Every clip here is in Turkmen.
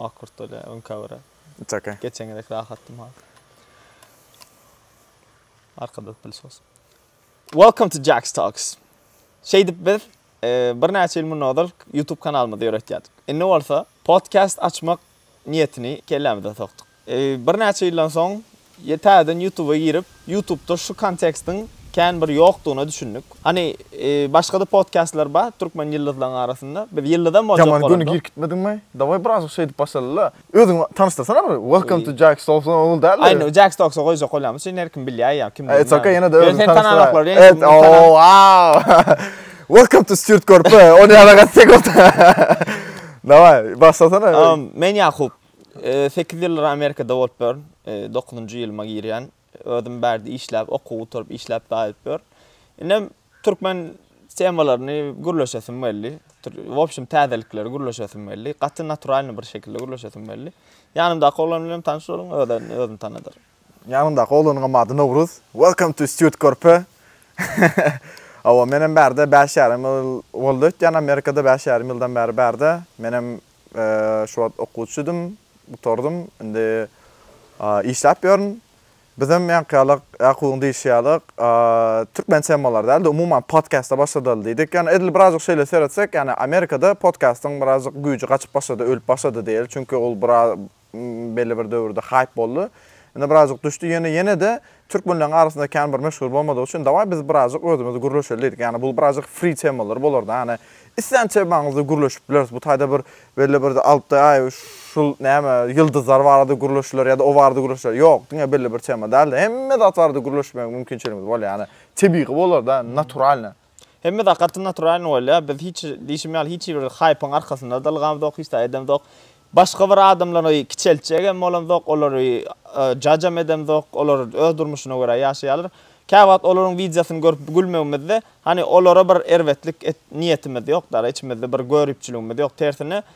Ak kurt bolýa öňka bire. It's okay. Geçen gezek rahatdym hazir. Arkada pylsos. Welcome to Jax Talks. Şeýdip biz bir näçe ýyl mundan ozal YouTube kanalymyzy ýöretýärdik. Indi bolsa podcast açmak niýetini kellämize sokduk. Birnäçe ýyldan soň täzeden Ýutuba girip, Ýutubda şu kontekstiň kän bir ýokdugyna düşündik. Hany, başga-da podkastlar bar türkmen ýyldyzlaryň arasynda. Biz ýyldyzam boljak bolardyk. Ýaman göni girip gitmediňmi? Daway birazajyk şeýdip başlala-la. Özüňi tanyşdyrsana bir. Welcome to Jack Stokes ol däl-de. Aýna, Jack Stokes-a goýjak bolýarmyş. Indi her kim bilýär ýa kimdir. It's okay, ýene-de özüňi tanyşdyr. Ýöne seni tananoklar. Et, oo, wow! Welcome to Stewart Körpe. Ony ýa-da gaty sek bolsa. Daway, başlasana. Men Ýakup. Sekiz ýyldyr Amerikada bolup ýörün. Dokuzynjy ýylyma girýän. Özüm bärde işläp, okuw gutaryp, işläp gaýdyp ýörün. Indem türkmen temalaryny gürleşesim geldi. W opşum täzelikleri gürleşesim geldi. Gaty naturalnyý bir şekilde gürleşesim geldi. Ýanymdaky oglan bilenem tanyş boluň, özem özüni tanadyr. Ýanymdaky oglanyňam ady Nowruz. Welcome to Stýurt körpe. Hawa, menem bärde bäş ýarym ýyl boldy öýtýän Amerikada, bäş ýarym ýyldan bäri bärde. Menem Şu wagt okuwçydym, gutardym. Indi işläp ýörün. Bizem ýaňky ýaly, Ýakubyň diýşi ýaly, türkmen temalar däl-de, umuman podkasta başladaly diýdik. Ýöne edil birazajyk şeýle seretsek, ýani Amerikada podkastyň birazajyk güýji gaçyp başlady, ölüp başlady diýeli. Çünki ol belli bir döwürde haýp boldy. Indi birazjyk düşdi, ýöne ýene-de türkmenleriň arasynda kän bir meşhur bolmadygy üçin dawaý biz birazjyk özümiz gürleşeli diýdik. Ýagny bu birazjyk free temalar bolardy. Ýagny islän temaňyzda gürleşip bileris. Bu taýda bir belli bir alty aý şul näme ýyldyzlar barada gürleşiler ýa-da o barada gürleşiler. Ýok, diňe belli bir tema däl-de, hemme zat barada gürleşmäge mümkinçiligimiz bolýar. Ýagny tebigy bolar-da, naturalny. Hemme zat gaty naturalyny bolýar. Biz hiç diýşim ýaly hiç bir haýpyň arkasynda dylgamzok, hiç zat edemzok. Başga bir adamlary kiçeltjek hem bolamzok, olary jajam edemzok. Olar öz durmuşyna görä ýaşaýarlar. Käwagt olaryň wideosyny görüp gülmegimizde, hany olara bir erbetlik et niýetimiz ýok däl, içimizde bir göripçiligimiz ýok. Tersine,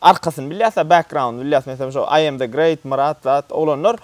Arkasyny bilýäsä background bilýäs meselem şo I am the great Myrat zat oglanlar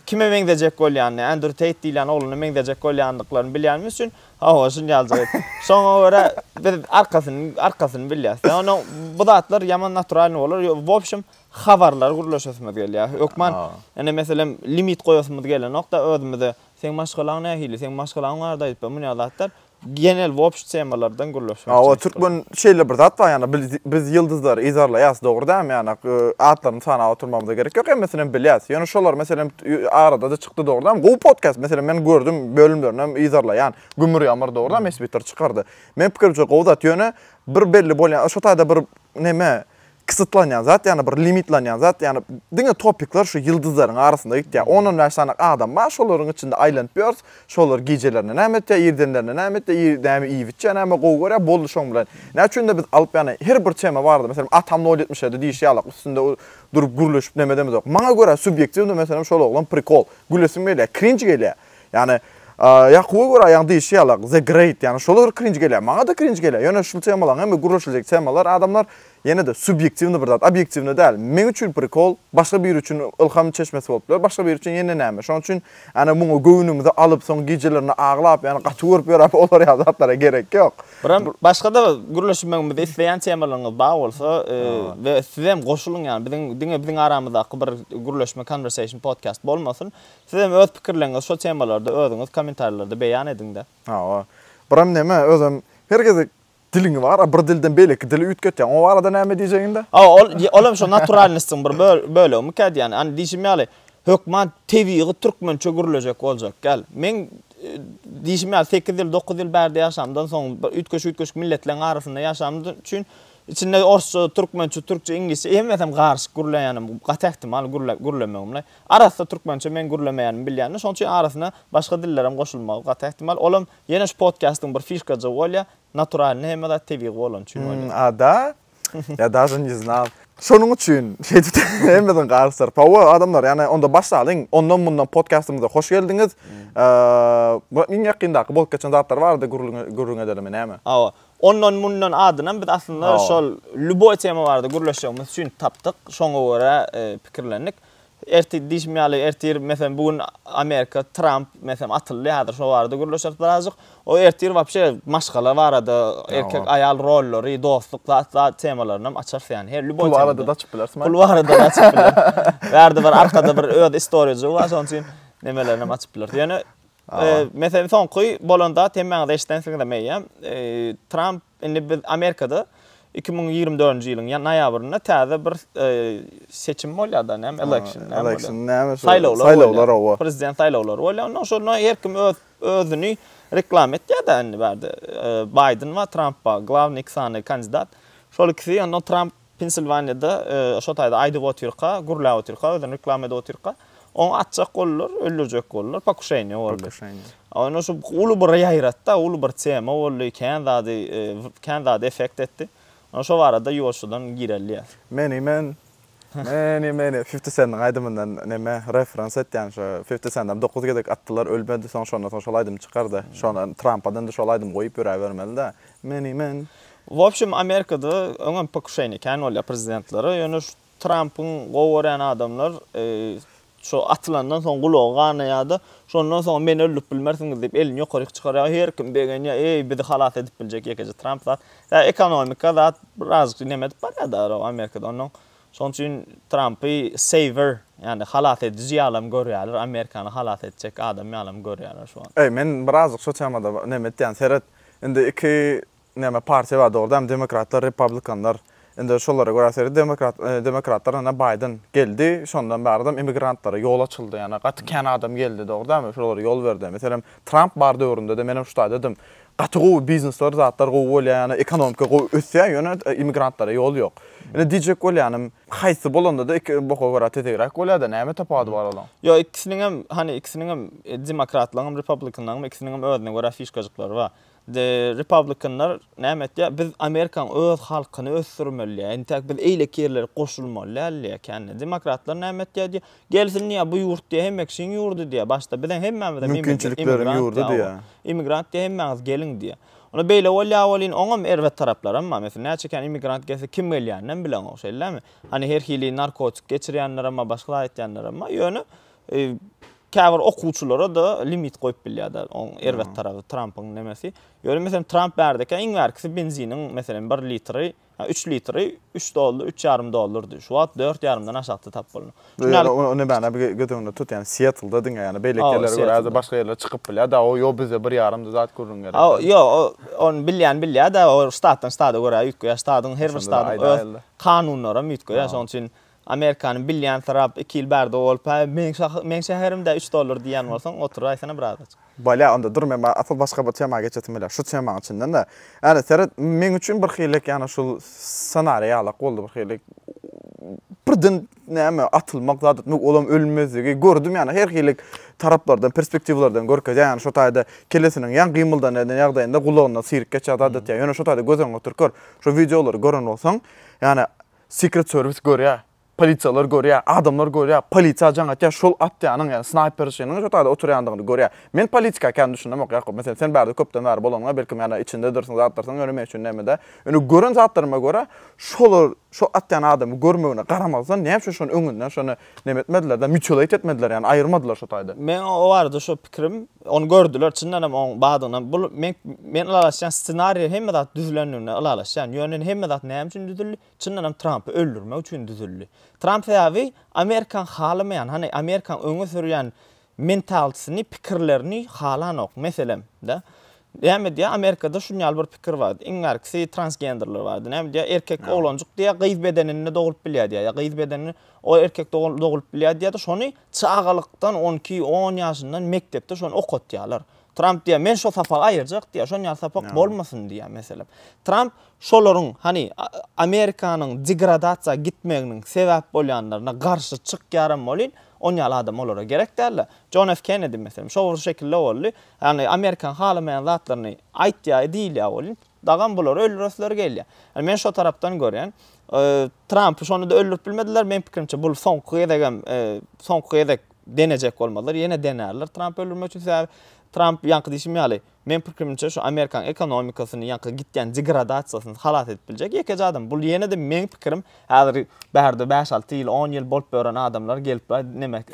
kime meňzejek bolýanyny Andrew Tate diýilýän oglana meňzejek bolýandyklaryny bilýänimiz üçin hawa şunýaljyk et şoňa görä biz arkasyny arkasyny bilýäs ýa onuň bu zatlar ýaman naturalnyý bolar ýo wobşem habarlary gürleşesimiz gelýä hökman ine meselem limit goýasymyz gelenokda özümize seň maşgalaň nähili seň maşgalaň barada aýdyp ber munýa zatlar Genel wobşt temalardan gürleşmek Ýa, o çykyş türkmen gurmak. şeýle bir zat bar, ýagny bil- biz ýyldyzlary yzarlaýas, dogry dälmi? Ýagny, y, atlaryny sanap oturmagymyza gerek ýok, hemmesinem bilýäs. Ýöne şolar, meselem, t- y, arada-da çykdy, dogry dälmi? Gowy podkast, meselem, men gördüm, bölümlerinem yzarlaýan. Gümür ýamyr, dogry dälmi, Esbitter çykardy. Meniň pikirimçe, gowy zat, ýöne bir belli bolýan, şo taýda bir neme, kyssytlanýan zat ýagny bir limitlanýan zat ýagny diňe topikler şu ýyldyzlaryň arasynda gitýär on on bäş sanak adam bar şolaryň içinde aýlanyp ýörüs şolar gijelerine näme etýär irdenlerine näme etýär ir näme iýip içýär näme gowy görýär boldy şoň bilen näme üçin-de biz alyp ýagny her bir tema barada meselem atam nol ýetmiş ýedi diýşi ýalak üstünde durup gürleşip näme edemizok maňa görä subýektiwnyý meselem şol oglan prikol gülesim gelýär krinj gelýär. Ýani Ýakuba görä ýaňy diýişi ýaly the great ýani şola bir krinj gelýär. Maňada krinj gelýär. Ýöne şul temalaň hemme gürleşiljek temalar adamlar ýene-de subýektiwny bir zat, obýektiwny däl. Meň üçin prikol başga biri üçin ylham çeşmesi bolup biler, başga biri üçin ýene näme. Şonuň üçin ýani muňa göwnümizi alyp soň gijelerine aglap ýani gaty görüp ýörap olar ýaly zatlara gerek ýok. Biram başgada gürleşmegimizi isleýän temalaryňyz bar bolsa we sizem goşulyň ýani biziň diňe biziň aramyzdaky bir gürleşme conversation podcast bolmasyn. Siz hem öz pikirleriňizi şol temalarda özüňiz komentarlarda beýan ediňda. Hawa. Biram neme, özem her gezek diliňi bar, a bir dilden beýleki dili üýtgetýäň. O barada näme diýjegiňdä? Hawa, ol, ol hem şo naturalnostyň bir bölegimikä diýýän. Ýani diýşim ýaly, hökman tebigy türkmençe gürlejek boljak däl. Meň diýşim ýaly, sekiz ýyl, dokuz ýyl bärde ýaşamdan soň, üýtgeşik-üýtgeşik milletleriň arasynda ýaşanym üçin, içinde orsça, türkmençe, türkçe, iňlisçe, hemmesem garyşyk gürleýänim gaty ähtimal, gürlemegimle. Arassa türkmençe meň gürlemeýänimi bilýändir, şonuň üçin arasyna başga dillerem goşulmagy gaty ähtimal. Olam ýene şu podkastyň bir fişkajygy bolýar, naturalnyý hemme zat tebigy bolany üçin bolýar. Hum a da ya daže ne znal. Şonuň üçin şeýdip hemmesini garyşdyryp. Hawa adamlar ýani onda başlalyň ondan mundan podkastymyza hoş geldiňiz. Bu iň ýakyndaky bolup geçen zatlar barada gürrüň edelimi näme? Hawa. Ondan mundan adynam biz aslynda şol lýuboý tema barada gürleşjegimiz üçin tapdyk. Şoňa görä pikirlendik. Ertir diýşim ýaly, ertir, meselem, bu gün Amerika, Tramp, meselem, atyldy häzir, şo barada gürleşeris birazajyk. O ertir wapşe maşgala barada, erkek-aýal rollary, dostluk zat zat temalaryny hem açarys ýaly. Her lýuboý temada. Pul barada-da açyp bileris. Pul barada-da açyp bileris. Bärde bir arkada bir öz istoriýajygy bar, şonuň üçin nemelerinem açyp bileris. Ýöne Meselen, soňky bolan zat, hemmäňiz eşidensiňizem eýýäm, Tramp indi biz Amerikada iki müň ýigrimi dördünji ýylyň noýabrynda täze bir seçim bolýar-da, näme, election, näme bolýar? Saýlawlar bolýar. Prezident saýlawlary bolýar. Onda şonda her kim öz özüni reklama etýär-de indi bärde. Baýden bar, Tramp bar. Glawnyý iki sany kandidat. Şol ikisi, onda Tramp Pensilwaniýada şo taýda aýdyp otyrka, gürläp otyrka, özüni reklama edip otyrka, ony atjak boldular, öldürjek boldular, pokuşeniýe boldy. Onda şu uly bir ýaýratdy-da, uly bir tema boldy, kän zady, kän zady effekt etdi. Onda şo barada ýolçudan gireliýär. Many man, many many, Fifti Sendiň aýdymyndan näme, referans etýän şo, Fifti Sendem dokuz gezek atdylar, ölmedi, soň şondan soň şol aýdym çykardy. Şondan Trampadan-da şol aýdymy goýup ýöräbermeli-dä, Many man, W opşum Amerikada öňem pokuşeniýa kän bolýar prezidentlere, ýöne şu Trampyň gowy görýän adamlar şu atylandan soň gulagy ganaýada, şondan soň meni öldürip bilmersiňiz diýip elini ýokaryk çykarýa, her kim begenýa, eý bizi halas edip biljek ýekeje Tramp zat. Ýa ekonomika zat birazajyk neme edip barýada ro Amerikada onnoň şonuň üçin Trampy saver ýagny halas ediji ýalam görýäler, Amerikany halas etjek adam ýalam görýäler şu wagt. Eý men birazajyk şu temada neme etýän seret indi iki Näme partiýa bar dogruda hem demokratlar republikanlar indi şolara görä seýrek demokrat demokratlar ene Baýden geldi şondan bärdem immigrantlara ýol açyldy ýane gaty kän adam geldi dogrudanmy şolara ýol berdi meselem Tramp bar döwründede menem şu taýdadym gaty gowy biznesler zatlar gowy bolýa ýane ekonomika gowy ösýä ýöne immigrantlara ýol ýok indi diýjek bolýanym haýsy bolandada iki boka görä tezegräk bolýada näme tapawudy bar olaň. Ýok ikisiniňem hany ikisiniňem demokratlaryňam republikanlaryňam ikisiniňem özüne görä fişkajyklary bar The Republicanlar näme etýär? Biz Amerikanyň öz halkyny ösdürmeli diýýär. Entäk biz eýleki ýerlere goşulmaly däl diýýär kände. Demokratlar näme etýär diýýär? Gelsin diýýär bu ýurt diýýär hemme kişiň ýurdy diýýär. Başda biziň hemmämizem Mümkinçilikleriň ýurdy diýýär. Immigrant diýýär hemmäňiz geliň diýýär. Onda beýle bolýar welin oňam erbet taraplarym bar. Meselem näçe kän immigrant gelse kim gelýäninem bileňok şeýlemi? Hany her hili narkotik geçirýänlerem bar başga zat etýänlerem bar. Ýöne Käbir okuwçylara-da limit goýup bilýär däl. Oň erbet tarapy Trampyň nemesi. Ýöne meselem Tramp bärdeki iň bärkisi benziniň meselem bir litri, ýa üç litri üç dollar, üç ýarym dollardy. Şu wagt dört ýarymdan aşakda tap bolmok. Şuny ony bana bir göz öňünde tut, ýani Siýetlda diňe ýani beýleki ýerlere görä ýa-da başga ýerlere çykyp bilýär da, o ýo bizde bir ýarymdy zat gürrüň gerek däl. Ýo, ony bilýän bilýär-de, o ştatdan ştada görä üýtgeýär. Ştadyň her bir ştadyň öz kanunlaram üýtgeýär. Şonuň üçin Amerikany bilýänsyrap iki ýyl bärde bolup hä meň şahy meň şäherimdä üç dollar diýýän bolsaň oturaýsana birazajyk. Bolýa onda dur men ba asl başga bir tema geçesim gelýär şu temaň içindende ýani seret meň üçin bir hilik ýani şul ssenariý ýalak boldy bir hilik birden näme atylmak zat etmek olam ölmezligi gördüm ýani her hilik taraplardan perspektiwlardan görkezýär ýani şo taýda kellesiniň ýan gymyldan eden ýagdaýynda gulagyndan syryk geçýär zat etýär ýöne şo taýda göz öňüňe oturyp gör şo wideolary gören bolsaň ýani Secret service görýä, polisiýalar görýä, adamlar görýä, polisiýa jaň atýa, şol atýanyň ýa snaýper şynyň şo taýda oturýandygyny görýä. Men politika kän düşünemok Ýakup. Meselem sen bärde köpden bäri bolanyňa belkim ýa-da içindedirsiň zatlarsyň ýöne men üçin näme-dä. Ýöne gören zatlaryma görä şolar şo atýan adamy görmegine garamazdan näme üçin şony öňünden şony Neme etmediler-de, mutilate etmediler, ýagny aýyrmadylar şo taýda. Meň o barada şo pikirim, ony gördüler, çyndan hem oň badygynam, bul, men, men ylalaşýan ssenariýa hemme zat düzülendigine ylalaşýan, ýöne indi hemme zat näme üçin düzüldi, çyndan hem Trampy öldürmek üçin düzüldi. Tramp sebäbi Amerikaň halamaýan, hany Amerikaň öňe sürýän mentalsini, pikirlerini halanok. Meselem, da, näme diýýär, Amerikada şuny ýaly bir pikir bar, iň bärkisi transgenderler bardy. Näme diýýär, erkek oglanjyk diýýär, gyz bedeninde doglup bilýär diýýär, ýa gyz bedenini o erkek doglup bilýär diýýär-de, şony çagalykdan, on iki, on ýaşyndan mekdepde şony okatýarlar. Tramp diýýär, men şo sapagy aýyrjak diýýär, şon ýaly sapak bolmasyn diýýär, meselem. Tramp şolaryň, hany, Amerikanyň degradasiýa gitmeginiň sebäp bolýanlaryna garşy çykýaram welin, On ýaly adam olara gerek däldi. Jon F. Kennedi, meselem, şo bir şekilde boldy. Ýagny Amerikanyň halamaýan zatlaryny aýtýar, diýilýär welin, dagam bulary öldüresleri gelýär. Ýagny men şo tarapdan görýän. Trampy şonda-da öldürip bilmediler. Meň pikirimçe, bul soňky gezegem, soňky gezek denejek bolmadylar. Ýene denerler Trampy öldürmek üçin. Sebäbi Tramp, ýaňky diýşim ýaly, Meň pikrimçe şu Amerikan ekonomikasyny ýaňky gitýän degradasiýasyny halas edip biljek ýekeje adam. Bul ýene-de meň pikirim. Häzir bärde bäş-alty ýyl, on ýyl bolup ýören adamlar gelip aý neme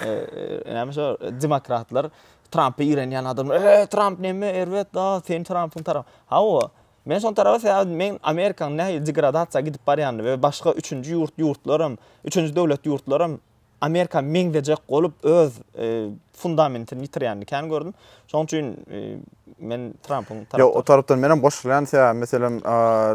näme şo demokratlar Trampy irenýän adamlar eý Tramp neme erbet da sen Trampyň tarap. Hawa men şoň tarap sebäbi men Amerikan nähili degradasiýa gidip barýanyny we başga üçünji ýurt ýurtlaram üçünji döwlet ýurtlaram Amerika meňzejek bolup öz fundamentini ýitirýänini kän gördüm. Şoň üçin men Trumpyň tarapdary. Ýok, o tarapdan menem goşulýan sebäbi meselem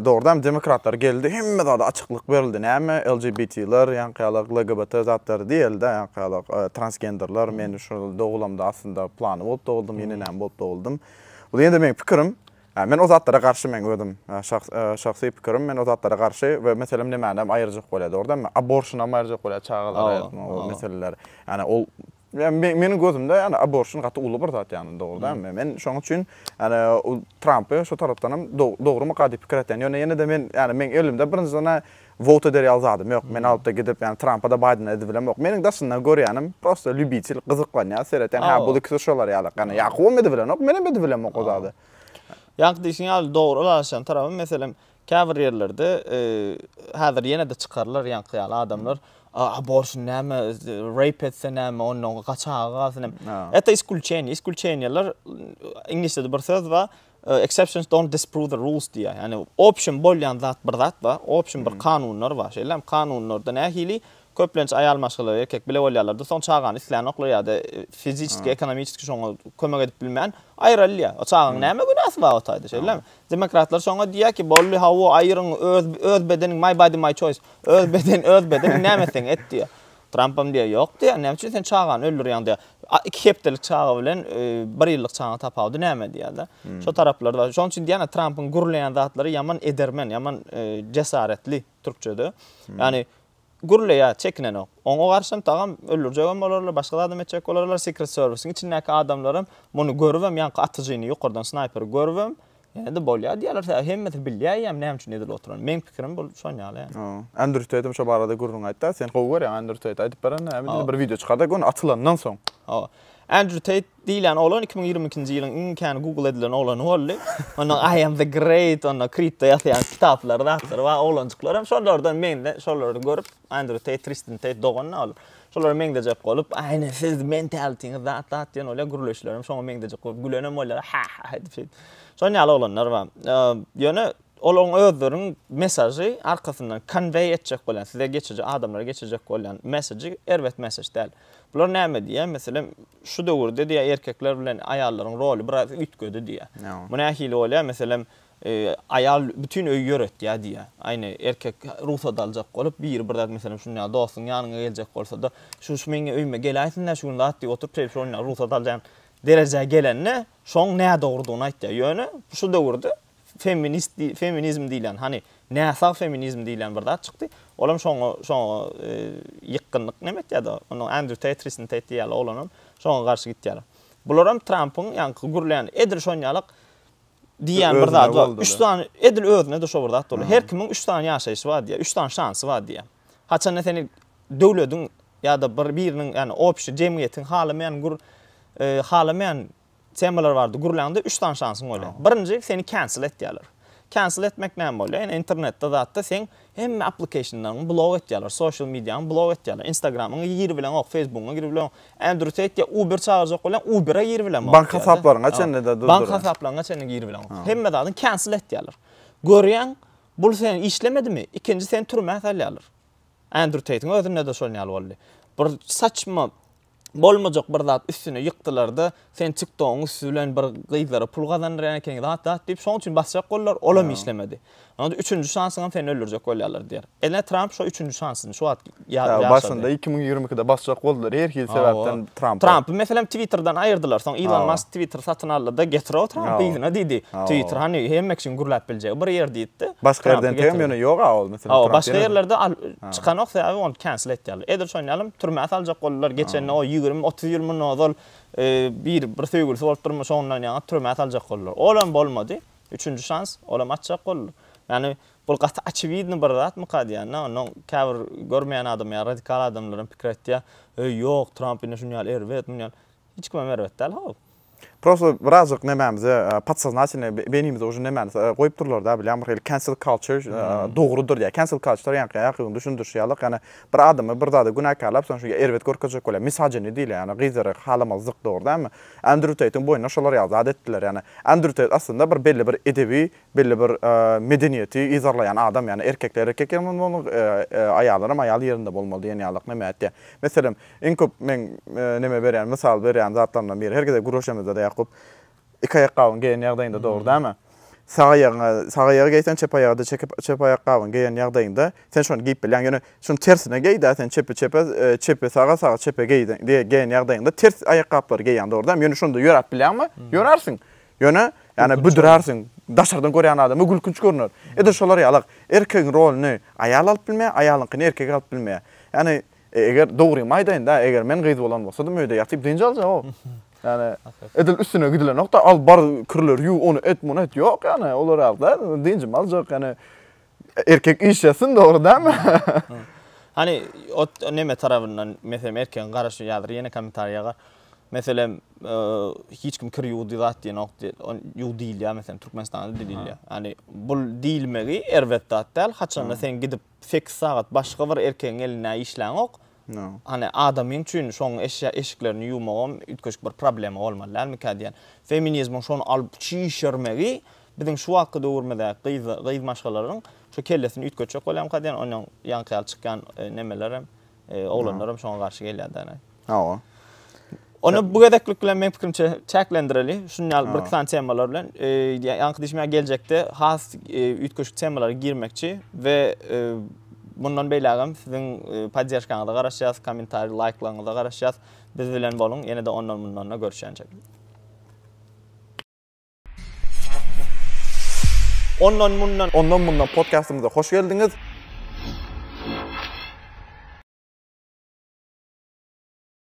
dogrudan demokratlar geldi, hemme zada açyklyk berildi. Näme LGBTler, ýaňkyýalak LGBT zatlary diýildi, ýaňkyýalak transgenderler, men şu ýyl dogulamda aslynda plany bolup doguldym, ýene näme bolup doguldym. Bu ýene-de meniň pikirim. Men o zatlara garşy meň özüm şahsy pikirim men o zatlara garşy we meselem nemänem aýyrjak bolýar dogrydanmy aborşynam aýyrjak bolýar çagalara aýyrtmak o meseleler ýani ol meniň gözümde ýani aborşyn gaty uly bir zat ýani dogrydanmy men şoň üçin ýani trampy şo tarapdanam dogrymy gaty pikir etýän ýöne ýene-de men ýani meň elimde birinjiden Vote eder ýaly zadym ýok. Men alypda gidip ýani Trampa-da Baýdena edibilemok. Meniň daşyndan görýänim prosta lýubitel gyzyklanýar seretýän hä bul ikisi şolar ýaly ýani Ýakubam edibilenok menem edibilemok o zady. Ýaňky diýşiň ýaly dogry ylalaşýan tarapy meselem käbir ýerlerde häzir ýenede çykarlar ýaňky ýaly adamlar abortion näme rape etse näme ondan gaçaga galsyn näme. Eta iskulçeniýa iskulçeniýalar iňlisçede bir söz bar Exceptions don't disprove the rules diýýär. Ýagny obşim bolýan zat bir zat bar, obşim bir kanunlar bar. Şeýlem kanunlarda nähili köplenç aýal maşgala erkek bile bolýarlarda soň çagany islänoklar ýa-da fiziçeski, ekonomiçeski şoňa kömek edip bilmän aýrylýar. O çagaň näme günäsi bar o taýda şeýlemi? Demokratlar şoňa diýýär ki boldy hawa aýryň öz öz bedeniň my body my choice öz beden öz bedeniň näme etseň et diýýär. Trampam diýýär, Ýok diýýär, näme üçin sen çagany öldürýäň diýýär. A iki hepdelik çaga bilen bir ýyllyk çagaň tapawudy näme diýýär-de. Şo taraplary bar. Şonuň üçin diýýän-ä Trampyň gürleýän zatlary ýaman edermen, ýaman jesaretli, türkçede. Ýagny gürleýär, çekinenok. Oňa garşam tagam öldürjegem bolarlar, başga zadam etjek bolarlar. Secret servisiň içindäki adamlaram muny görübem, ýaňky atyjyny, ýokardan snaýperi görübem, Ýene-de bolýar diýýärler, sebäbi hemmesi bilýäýýäm näme üçin edil oturan. Meň pikirim bu şon ýaly. Andrew Tate hem şo barada gürrüň aýtdy. Sen gowy görýäň Andrew Tate aýdyp berende näme diýdi bir wideo çykardy gun atylandan soň. Hawa. Andrew Tate diýilýän oglan iki müň ýigrimi ikinji ýylyň iň kän google edilen oglany boldy. Onuň I am the great onda kripto ýasýan kitaplary zatlary bar oglanjyklar hem şolardan men-de şolary görüp Andrew Tate, Tristan Tate dogan-da ol. Şolara meňzejek bolup, Aý, ine, siz mentalitiňiz zat-zat diýen bolýar, gürleşlerim şoňa meňzejek bolup gülenem bolýarlar, ha-ha edip şeýdip. Şonuň ýaly oglanlar bar. Ýöne olaryň özleriniň mesažy arkasyndan konweý etjek bolýan, size geçirjek, adamlara geçirjek bolýan mesažy erbet mesaž däl. Bular näme diýýär, meselem, şu döwürde diýýär, erkekler bilen aýallaryň roly biraz üýtgedi diýýär. Bu nähili bolýar, meselem, Aýal bütin öýi ýöretýär diýýär. Aýna erkek rugsat aljak bolup, biri bir zat, meselem, şunda dostuň ýanyňa geljek bolsa-da, Şu-şu meň öýüme geleýsin-dä şu gün zat diýip oturyp, şeýdip şol günler rugsat alýan derejä gelende, şoň nädogrudygyny aýtýar. Ýöne şu döwürde feminist diý, feminizm diýlen, hany, näsag feminizm diýlen bir zat çykdy. Olam şoňa, şoňa ýykgynlyk näme etýär-de, onda Andrew Teýt, Tristan Teýt diýýärler, olanam şoňa garşy gitýärler. Bularam Trampyň ýaňky gürleýän, edil şonýalak, diýýän bir zady bar. Üç sany, edil özüne-de şo bir zat boldy. Her kimiň üç sany ýaşaýşy bar diýýär, üç sany şansy bar diýýär. Haçanda seni döwlediň ýa-da bir biriniň, ýagny obşi jemgyýetiň halamaýan gür e, halamaýan temalar bardy gürläňde üç sany şansyň bolýar. Birinji seni cancel etýärler. Cancel etmek näme bolýar? Ýa internetde zatda sen Hemme aplikeyşinleriňi blok etýärler, soşýal mediaňy blok etýärler, instagramyňy gir bileňok, feýsbugyňy gir bileňok. Ändru seýtde uber çagyrjak bolýaň, ubere gir bilemok. Bank hasaplaryňa çenli-de durdurýar. Bank hasaplaryňa çenli gir bileňok. Hemme zadyňy cancel etýärler. Görýäň, bul seniň işlemedimi, ikinji seni türmä salýarlar. Ändru seýtiň özünde-de şonuň ýaly boldy. Bir saçma. bolmajak bir zat üstüne ýykdylarda sen tik togyň üsti bilen bir gyzlara pul gazandyrýan ekeň zat zat diýip şoň üçin basjak boldular olam işlemedi onda üçünji şansyňam seni öldürjek bolýarlar diýer ene tramp şo üçünji şansyny şu wagt ýaşady başynda iki müň ýigrimi ikide basjak boldular her hili sebäpden trampy trampy meselem twitterden aýyrdylar soň ilon mask twitter satyn aldyda getiroo trampy yzyna diýdi twitter hany hemme kişiň gürläp biljegi bir ýer diýdidi başga ýerden teýem ýöne ýoga ol meselem başga ýerlerde Çykanok sebäbi ony cancel etýärler. Edil şony ýalym türmä saljak boldular geçende o ýigrimi otuz ýyl mundan ozal bir bir söýgülisi bolup durmuşa ondan ýaňa türmä saljak boldular. Olam bolmady. Üçünji şans olam açjak boldular. Ýani bul gaty oçewidny bir zatmyka diýýända ondan käbir görmeýän adam ýa radikal adamlaram pikir aýtýar. Eý ýok Tramp ine şuny ýaly erbet muny ýaly. Hiç kimem erbet däl how. Prosto birazjyk nemämize podsoznatelnoý beýnimize uje nemäni goýup durlarda bilýän bir hili cancel culture dogrudyr diýýär. Cancel culture ýaňky ýaňky gün düşündirişi ýalyk ýani bir adamy bir zada günäkärläp soň şuňa erbet görkezjek bolýar. Misajeni diýilýär ýani gyzlary halamazlyk dogry dälmi? Andrew Teýtiň boýnuna şolar ýaly zat etdiler ýani Andrew Teýt aslynda bir belli bir edebi belli bir medeniýeti yzarlaýan adam, ýagny erkekler erkek ýerinde bolmaly, aýallaram aýal ýerinde bolmaly diýen ýalylyk neme aýtýar. Meselem, iň köp meň neme berýän, mysal berýän zatlarymdan biri, her gezek gürleşemizde-de Ýakup, iki aýakgabyňy geýen ýagdaýyňda, dogry dälmi? Sag aýagyňa, sag aýagy geýseň, çep aýaga-da çekip, çep aýakgabyňy geýen ýagdaýyňda, sen şony geýip bilýäň. Ýöne şuny tersine geý-dä, sen çepi çepe, çepi saga, sagy çepe geýen ýagdaýyňda, ters aýakgaplary geýýäň, dogry dälmi? Ýöne şonda ýöräp bilýäňmi? Ýörärsiň. Ýöne, ýani büdürärsiň, daşardan görýän adama gülkünç görner. Edil şolar ýalak, erkegiň roluny aýal alyp bilmeýär, aýalyňkyny erkek alyp bilmeýär. Ýani, eger dogrymy aýdaýyn-da, eger men gyz bolan bolsadym, öýde ýatyp dynç aljagok. Ýani, edil üstüne gidilenokda, al bar, kirleri ýuw, ony et, muny et, ýok ýani, olar ýaly däl, dynjymy aljak, ýani, Erkek iş ýasyn dogry dämi? Hani ot neme tarabyndan meselem erkegiň garaşy ýazyr ýene kommentariýaga. Meselem hiç kim kir ýuwdy zat diýenok diýil. On ýuw diýilýär meselem Türkmenistanda diýilýär. Hani bu diýilmegi erbet zat däl. Haçanda sen gidip 8 sagat başga bir erkegiň elinde işläňok. Hany, adamyň üçin şoň eşya eşiklerini ýuwmagam üýtgeşik bir problema bolmaly dälmikä diýýän. Feminizmiň şony alyp çişirmegi biziň şu wagtky döwrümizdäki gyz gyz maşgalalaryň şu kellesini üýtgetjek bolýamyka diýýän, onýan ýaňky ýaly çykýan nemelerem, oglanlarem şoňa garşy gelýär-dä. Hawa. Ony bu gezeklik bilen men pikirimçe çäklendireli. Şun ýaly bir klan temalar bilen e, ýaňky diýme geljekde has e, üýtgeşik temalara girmekçi we e, mundan beýlägem siziň podderžkaňyza garaşýas, kommentariý, laýklaryňyza garaşýas. Biz bilen boluň. Ýene-de ondan mundan da görüşýänçe. Ondan mundan Ondan mundan podkastymyza hoş geldiňiz.